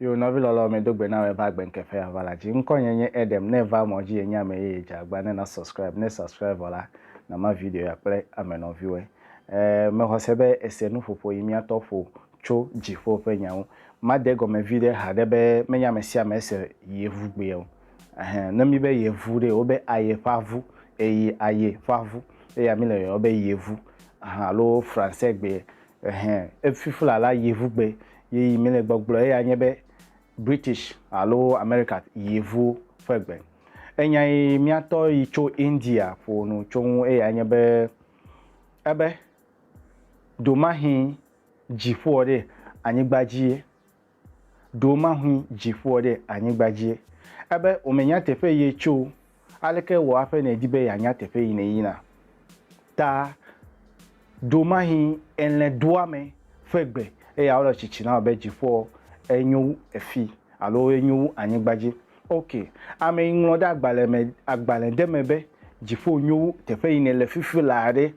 Yo nɔvi lɔlɔ̃ medo gbe na wɔ eva agbe ŋkeke ya va la dzi. Ŋkɔ nye nye Edem ne eva mɔ dzi enye ame yeye dze agba ne na subscribe ne subscribe vɔ la na ma video ya kple ame nɔviwɔe e me xɔ se be ese nu ƒoƒo yi mia tɔ ƒo tso dziƒo ƒe nya ŋu ma de gɔme viɖe haɖe be menye ame sia ame ese yi evu gbe o ehe ne mi be ye vu ɖe wo be aye ƒa vu eyi aye ƒa vu eya mi le yɔyɔ be ye vu aha alo fransɛ gbe Ɛhɛ, efifla la yevugbe ye yi mele gbɔgblɔ eya nye be British alo America yevu ƒe gbe. Enya yi miatɔ yi tso India ƒo nu tso ŋu eya nye be ebe, Domahi dziƒoɔ ɖe anyigba dzi ye ɖo mahui dziƒoɔ ɖe anyigba dzie. Ebe womenya teƒe yie tso o, aleke wò aƒe nèdi be yeanya teƒe yi nèyina? Ta ɖo mahi elẽ doa me ƒe gbe, eye awole tsitsi na wò be dziƒoɔ enyo wu efi, alo enyo wu anyigba dzi. Ok, ame yi ŋlɔ ɖe agbalẽ me, agbalẽ ɖe me be, dziƒo nyo wu teƒe yi nèle fifi laa ɖe?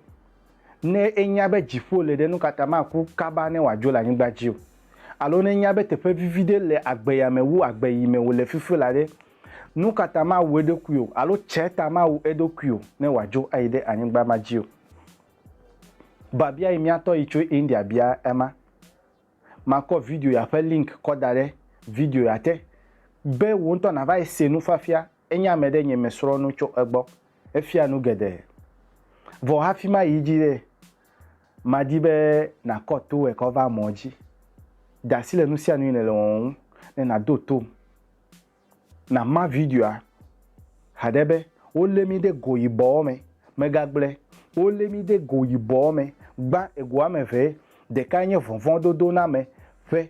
Ne enya be dziƒo le ɖe, nu ka ta maku kaba ne wòadzo le anyigba dzi o? Alo ne enya be teƒe vivi ɖe le agbeyame wu agbe yi me wòle fifi la ɖe, nu ka ta mawu eɖokui o, alo tsɛ ta mawu eɖokui o ne wòadzo ayi ɖe anyigba ma dzi o? Biabia yi mía tɔ yi tso India bia ema. Makɔ video ya ƒe link kɔ da ɖe video ya te be wò ŋutɔ nàva yi se nufiafia Enye ame ɖe nye me srɔ̃ nu tso egbɔ. Efia nu geɖe. Vɔ hafi mayi edzi ɖe, madi be nàkɔ to wòe kɔ va mɔ dzi. De asi le nu sia nu yi nèle wɔwɔ ŋu ne nàdo tom. Nàma videoa haɖe be, Wolé mí ɖe go yibɔ me. Megagblɔe, Wolé mí ɖe go yibɔ me. Gbã egoa me ʋɛ. Ɖekae nye vɔvɔ̃dodoname ƒe.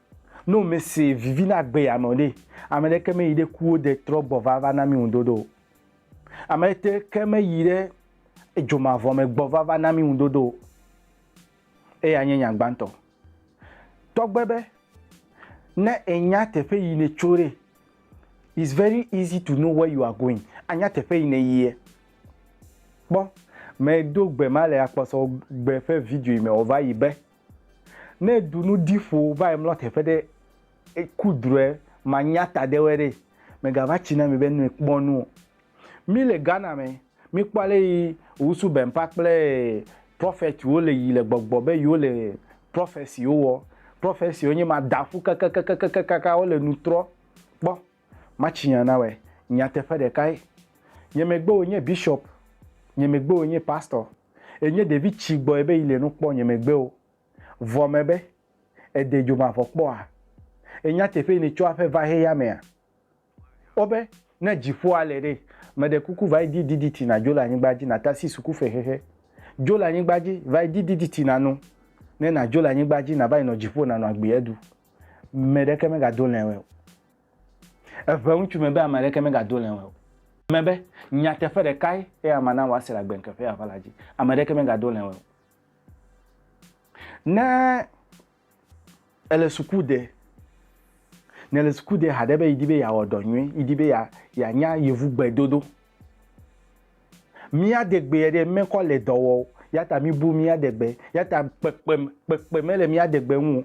Ne womese vivi na agbeyame o ɖe, ame ɖeke meyi ɖe kuwo de trɔ gbɔ va va na mí ŋudodo o. Ame ɖeke meyi ɖe edzo mavɔ me gbɔ va va na mí ŋudodo o. Eyae nye nya gbãtɔ. Tɔgbe be, ne ènya teƒe yi nètso ɖe, it's very easy to know where you are going. Ànya teƒe yi nèyia. Kpɔ, medo gbe ma le akpɔsɔgbe ƒe video yi me wòva yi be. Ne du nu di ƒo va yi mlɔ teƒe ɖe eku drɔe manya ta ɖe wɛ ɖe mega va tsi na mi be nue kpɔ nu o. Mi le Ghana me mi kpɔ ale yi Owusu Bɛmpa kple prophet wo le yi le gbɔgbɔ be yi wo le prophecy wo wɔ. Prophecy wo nye ma da ƒu kakakakakakaka wo le nu trɔ. Kpɔ ma tsi nya na wɛ nyateƒe ɖeka ye. Nye megbe wo nye bishop nye megbe wo nye pastor. Enye ɖevi tsi gbɔe be yi le nu kpɔ nye megbe o. Vɔ me be, Ède dzo mavɔ kpɔa? Ènya teƒee ni tso aƒe va heya mea? O be, Ne dziƒoa le ɖe, meɖe kuku va yi di diditi na dzo le anyigba dzi natasi suku fe xexe. Dzo le anyigba dzi, va yi di diditi na nu, ne nadzo le anyigba dzi nava yi nɔ dziƒo nanɔ agbi edu. Meɖeke megado lɛ̃ o. Eʋe ŋutsu me be ame aɖeke megado le eŋue o. Me be, Nyateƒe ɖekae eya mana wòase le agbe ŋkeke ƒe aʋala dzi. Ame aɖeke megado le eŋue o. Ne èle suku de, nèle suku de haɖe be yi di be yeawɔ dɔ nyui, yi di be yeanya Yevugbe dodo, Mía degbee ɖe mekɔ le dɔ wɔ o, yata mibu mía degbe, yata kpekpem kpekpe mele mía degbe ŋu o.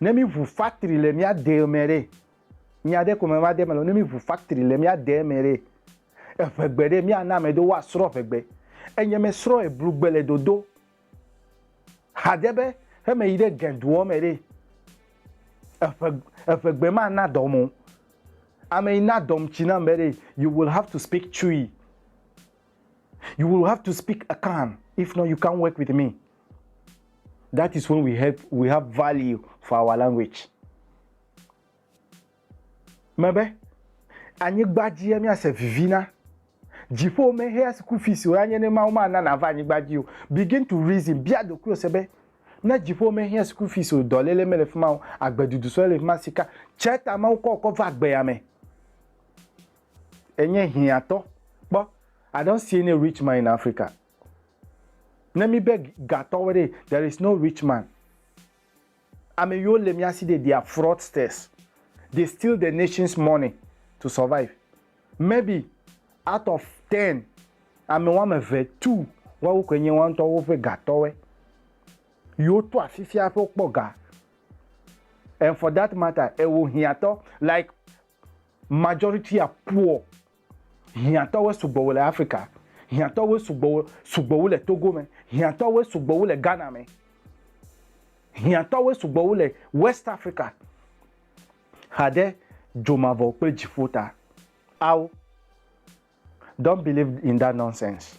Ne mi ʋu factory le mía dee me ɖe, nya ɖe ko me va de me le, ne mi ʋu factory le mía dee me ɖe, eʋegbe ɖe mía na ame ɖewo woa srɔ ʋegbe. Enye me srɔ eblu gbe le dodo. Hadze be heme yi ɖe Gen duɔ me ɖe, eƒe, eƒe gbe ma na dɔm o. Ame yi na dɔm tsi nam be ɖe, you will have to speak Twi. You will have to speak Akan, if not you can't work with me. That is when we have, we have value for our language. me be, Anyigba dzie míase vivi na. Dziƒo mehea school fees o, anye ne Mawu mana nàva anyigba dzi o. Begin to reason, bia ɖokuiwò se be, Ne dziƒo mehea school fees o, dɔléle mele fi ma o, agbedudu sɔe le fi ma, sika tsɛ ta Mawu kɔ wòkɔ va gbea me. Ènye hiãtɔ. Kpɔ, I don't see any rich man in Africa. Ne míbe gatɔwo ɖee, there is no rich man. Ameyiwo le miasi ɖe they are fraudsters they steal the nations money to survive maybe out of ten ame woame eve two woawo koe nye woaŋtɔ woƒe ga tɔwɔe yiwo to afifia hafi wokpɔ ga and for that matter ewo hiatɔ like majority are poor Hiãtɔwoe sugbɔ wu le Afrika. Hiãtɔwoe sugbɔ wu sugbɔ wu le Togo me. Hiãtɔwoe sugbɔ wu le Ghana me. Hiãtɔwoe sugbɔ wu le West Afrika. Xa ɖe dzo mavɔ kple dziƒo ta. Ao! Don't believe in that nonsense.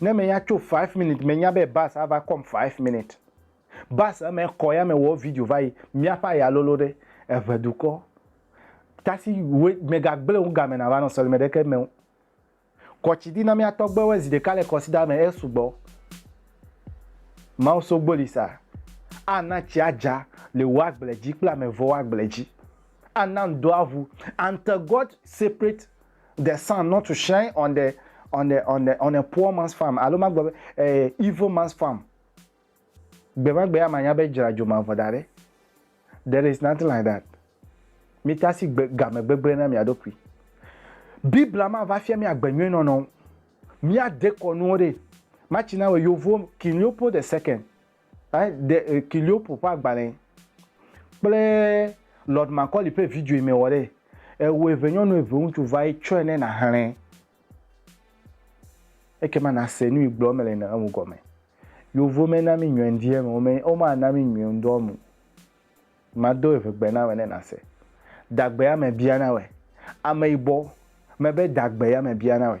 Ne me ya tso five minutes me nya be bus ava kɔm five minutes bus eme kɔ ya me wɔ video va yi miaƒe aya lolo ɖe eʋe dukɔ tasi we me ga gble wo game na va nɔ sɔlime ɖeke me wo kɔ tsi di na mia tɔgbe we zi ɖeka le kɔsi da me e sugbɔ mawo so gboli sa a na tsi a dza le wo agble dzi kple ame vɔ wo agble dzi a na ŋdɔ aʋu until God separate the sun not to shine on the on the on the on a poor man's farm alo magblɔ be eh, evil man's farm gbemagbe ya manya be dzra dzo mavɔ da ɖe there is nothing like that mita asi gbe game gbegblẽ na mia ɖokui biblia ma va fia mi agbe nyuie nɔnɔ mia dekɔ nuwo ɖe machina we yovo king leopold the second Ɛ, ɖe Kyliopo ƒe agbalẽ kple Lord Macaulay ƒe videoe mewɔ ɖe? Ewo eve nyɔnu eve ŋutsu va ye tsɔe ne nàxlẽ. Ekema nàse nu yi gblɔm mele na ŋu gɔme. Yeovo mena mí nyɔendiɛ me, wome, womana mí nyɔendɔ me o. Mado eve gbe na wɔ ne nàse. Dagbe ya mebia na wɔe. Ameyibɔ, mebe dagbe ya mebia na wɔe.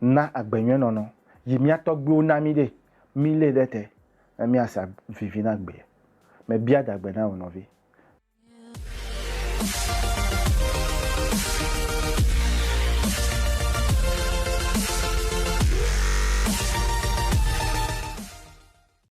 na agbe nyuie nɔnɔ yi mía tɔgbuiwo na mí ɖe, mí lé ɖe te ne mía sa vivi na agbea. Me bia dagbe na wò nɔvi.